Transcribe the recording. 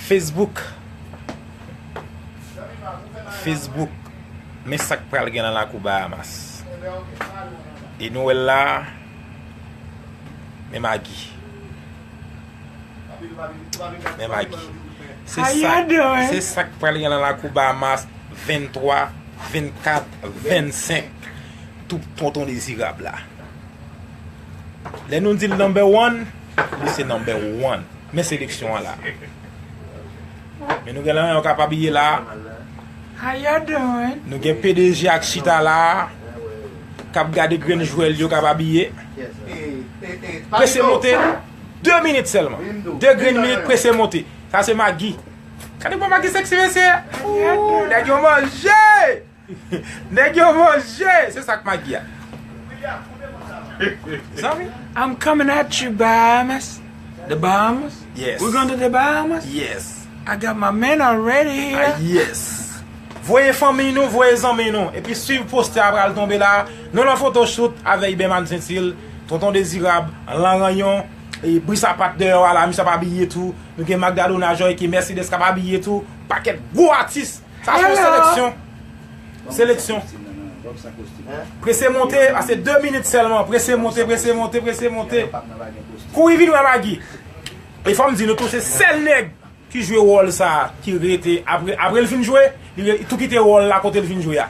Facebook Facebook Men sak pral gen nan lakou Bahamas E nou wèl la Men magi Men magi Se sak pral gen nan lakou Bahamas 23, 24, 25 Tout tonton dezirab la Lè nou di l number one, li se number one. Men seleksyon an la. Men nou gen lan yo kap abiye la. How you doing? Nou gen pdg ak chita la. Kap gade grenn jwè l yo kap abiye. Prese monte. 2 minit selman. 2 grenn minit prese monte. Sa se Maggi. Kade bon Maggi seksi mesye. Ooh neg yo manje. Neg yo manje! Se sak magi a. Zanmi. I'm coming at you Bahamas. The Bahamas? Yes. We going to the Bahamas? Yes. I got my man already here. Ah yes. Voye fanmiy nou, voye zanmiy nou. Epi swiv poste a pral tonbe la. Nou lan foto shoot avek Iberman Gentil, Tonton Dezirab, Lanranyon, e Brisapat deyò a la, misye ap abiye tou. Nou gen Magdalona Joyke, Mercedes kap abiye tou. Paket gwo atis. Sa son seleksyon. Seleksyon. Prese monte, ase 2 minit selman. Prese monte, prese monte, prese monte. Kou yi vin wè Magi. E fòm di nou tou se sel neg ki jwe wòl sa ki rete apre li fin jwe, li tou kite wòl la kote li fin jwe a.